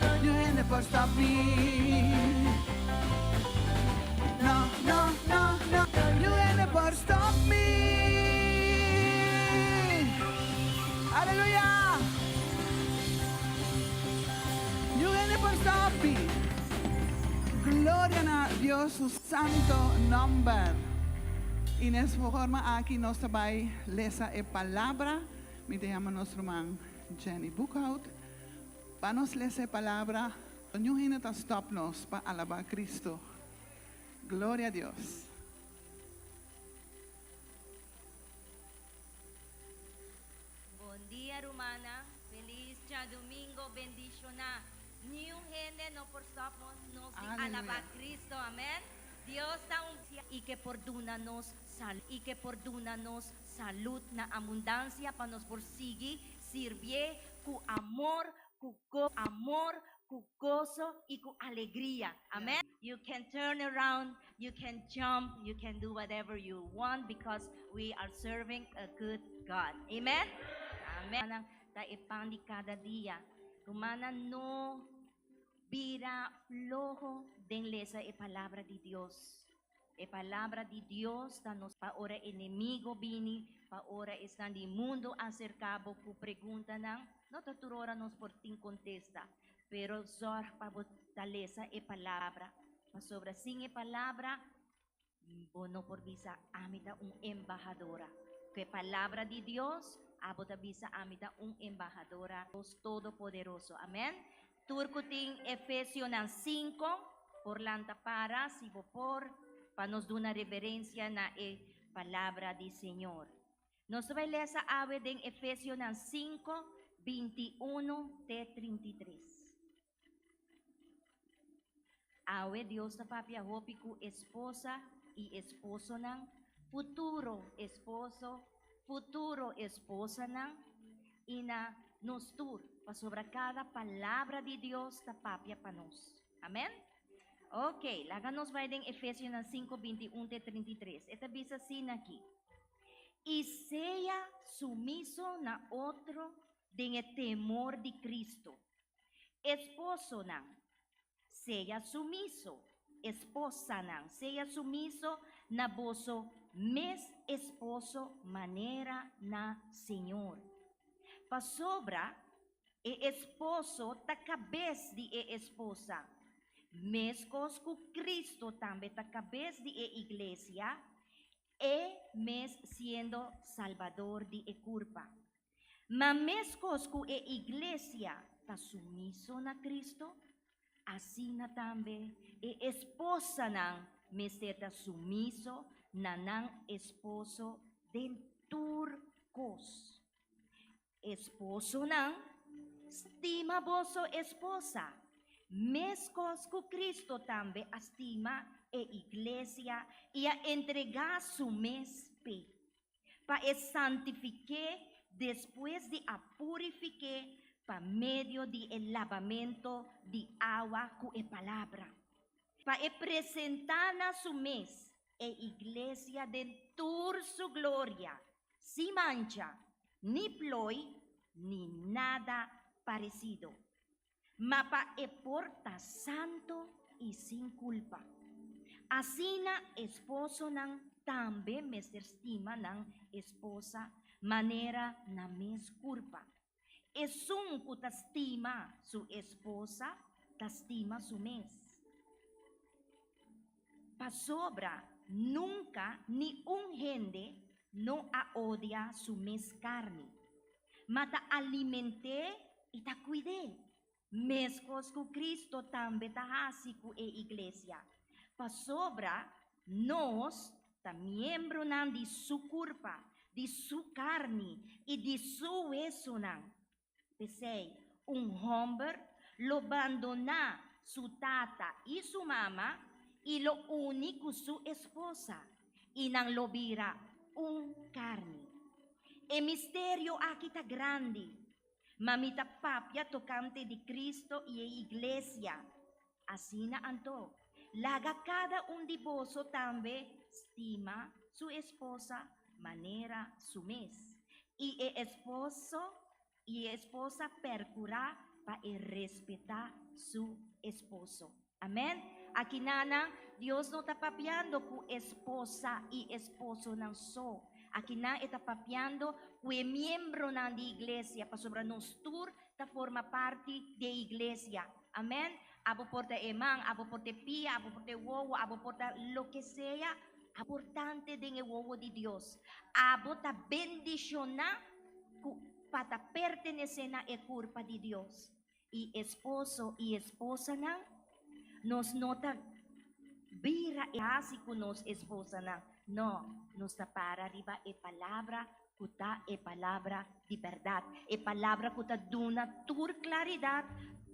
Radio hende por sabi Na na na na Radio hende por stop mi Aleluya Yu hende por stop mi Gloria na Dios su santo nomber I nes forma aki nos ta bai lesa e palabra mi ta yama nos ruman Jenny Boekhoudt. Pa nos lesa e palabra, pa niun hende ta stop nos pa alabá Cristo. Gloria Dios! Bondia rumannan, feliz djadumingo bendishoná. Niun hende no por stop nos di alabá Cristo, amén. Dios ta un. I ke por duna nos salud na abundansia pa nos por sigui. Sirbié ku amor, ku amor, ku goso i ku alegria. Amèn. You can turn around, you can jump, you can do whatever you want because we are serving a good God. Amen. Amen. Ta e pan di kada dia. Rumannan no bira floho den lesa e palabra di Dios. E palabra di Dios ta nos pa ora enemigo bini, pa ora esnan di mundu aserká bo ku preguntanan. No ta tur ora nos por tin kontesta, pero zòrg pa bo ta lesa e palabra, pasobra sin e palabra bo no por bisa, Ami ta un embahadora. Ku e palabra di Dios abo ta bisa, Ami ta un embahadora di Dios Todopoderoso. Amèn. Tur cu tin Efesionan cinco, por lanta para si bo por, pa nos duna reverencia na e Palabra di Señor. Nos ta bai lesa awe den Efesionan cinco, binti uno te trinta i tres. Awe Dios ta papia hopi ku esposa i esposonan, futuro esposo, futuro esposanan i na nos tur, pasobra kada palabra di Dios ta papia pa nos. Amen. Ok, laga nos bai den Efesionan sinku binti un te trinta i tres. E ta bisa asina aki, I sea sumiso na otro den e temor di Cristo. Esposonan, Sea sumiso, esposanan, sea sumiso na boso mes esposo manera na Señor. Pasobra e esposo ta cabes di e esposa, mescos cu Cristo tambe ta cabes di e Iglesia, e mes siendo Salbador di e curpa. Ma meskos ku e iglesia ta sumiso na Kristu, asina tambe e esposanan mester ta sumiso na nan esposo den tur kos. Esposonan, stima boso esposa, meskos ku Kristu tambe a stima e iglesia i a entregá su mes p'e. pa e santifiké despues di a purifiké pa medio di e labamento di awa ku e palabra, pa e presentá na su mes e iglesia den tur su gloria, sin mancha, ni ploi, ni nada paresido. ma pa e por ta santu i sin kulpa. Asina esposonan tambe mester stima nan esposa manera nan mes kurpa. Esun ku ta stima su esposa ta stima su mes. Pasobra nunka ni un hende no a odia su mes karni, ma ta aliment'é i ta kuid'é. Meskos ku Kristu tambe ta hasi ku e iglesia, pasobra nos ta miembronan di su kurpa, di su karni i di su wesunan. P'esei, un hòmber lo bandoná su tata i su mama i lo uni ku su esposa, i nan lo bira un karni. E misterio akí ta grandi, ma mi ta papia tokante di Kristu i e iglesia. Asina anto, laga kada un di boso tambe stima su esposa manera su mes, i e esposo i e esposa perkurá pa e respetá su esposo. Amen. Aki nanan, Dios no ta papiando ku esposa i esposonan so. Aki nan e ta papiando ku e miembronan di iglesia, pasobra nos tur ta forma parti di e iglesia. Amen abo por ta e man abo por ta e pia abo por ta e wowo abo por ta loke sea aportante den e wowo di Dios abo ta bendishona ku pa ta pertenesé na e kurpa di Dios i esposo i esposanan nos no ta bira e hasi ku nos esposanan nò nos ta para riba e palabra ku ta e palabra di bèrdat, e palabra ku ta duna tur klaridat,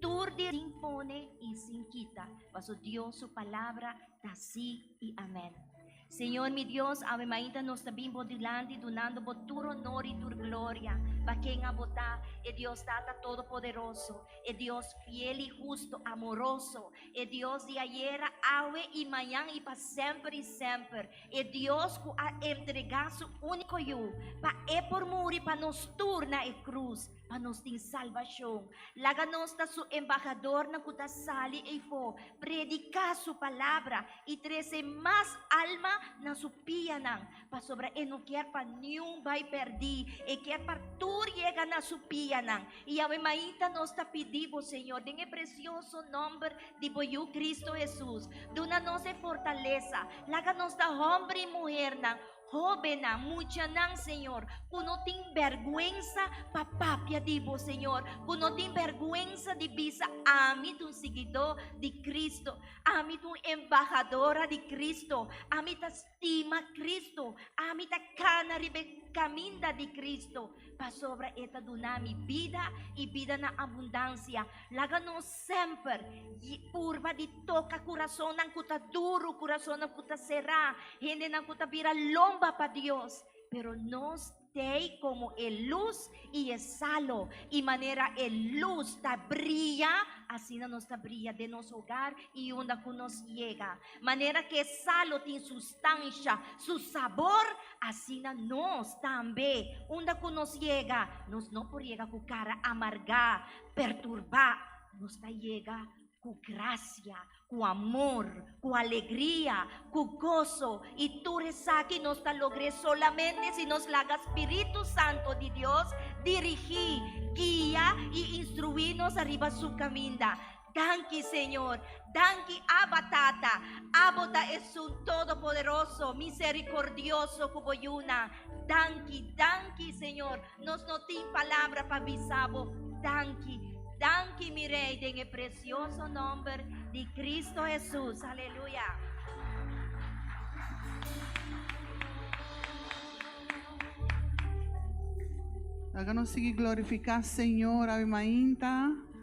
tur di. Sin pone i sin kita, paso Dios su palabra ta sí i amèn. Señor mi Dios, awe mainta nos ta bin bo dilanti dunando bo tur onor i tur gloria, pa kenha bo ta, e Dios Tata Todopoderoso, e Dios fiel i hustu, amoroso, E Dios di ayera, awe i mañan i pa semper i semper. E Dios ku a entregá Su úniko Yu pa E por muri pa nos tur na e krus, pa nos tin salbashon. Laga nos ta Su embahadornan ku ta sali eifó, prediká Su palabra i trese mas alma na Su pianan. Pasobra e no kier pa niun bai perdí, e kier pa tur yega na su pianan. I Yahweh maita nos ta pidí bo, Señor, den e presioso nòmber di bo Yu Kristu Hesus, duna nos e fortalesa. Laga nos ta hòmber i muhernan, hóbennan, muchanan, Señor, ku no tin bèrgwensa pa papia di bo, Señor, ku no tin bèrgwensa di bisa, Ami ta un siguidó di Kristu, ami ta un embahadora di Kristu, ami ta stima Cristo, ami ta kana riba e caminda di Cristo, pasobra e ta duna mi bida y bida na abundancia. Laga nos semper purba di toca curasonan cu ta duru, curasonan cu ta cera, hendenan cu ta bira lomba pa Dios, pero nos. T'ei komo e lus i e salo, i manera e lus ta bria, asina nos ta bria den nos hogar i unda ku nos yega. Manera ku e salo tin su stansha, su sabor, asina nos tambe, unda ku nos yega, nos no por yega ku kara amargá, perturbá. Nos ta yega. Ku grasia, ku amor, ku alegria, ku goso i tur esaki nos ta logr'é solamente si nos laga Spiritu Santu di Dios dirigí, guia i instruí nos ariba Su kaminda. Danki, Señor. Danki, Aba Tata. Abo ta Esun Todopoderoso, Miserikordioso ku Bo yuna. Danki, danki, Señor. Nos no tin palabra pa bisa bo danki. Danki mi Rey den e precioso nomber di Cristo Jesus. Aleluya. Laga nos sigui glorifica Señor abi mainta.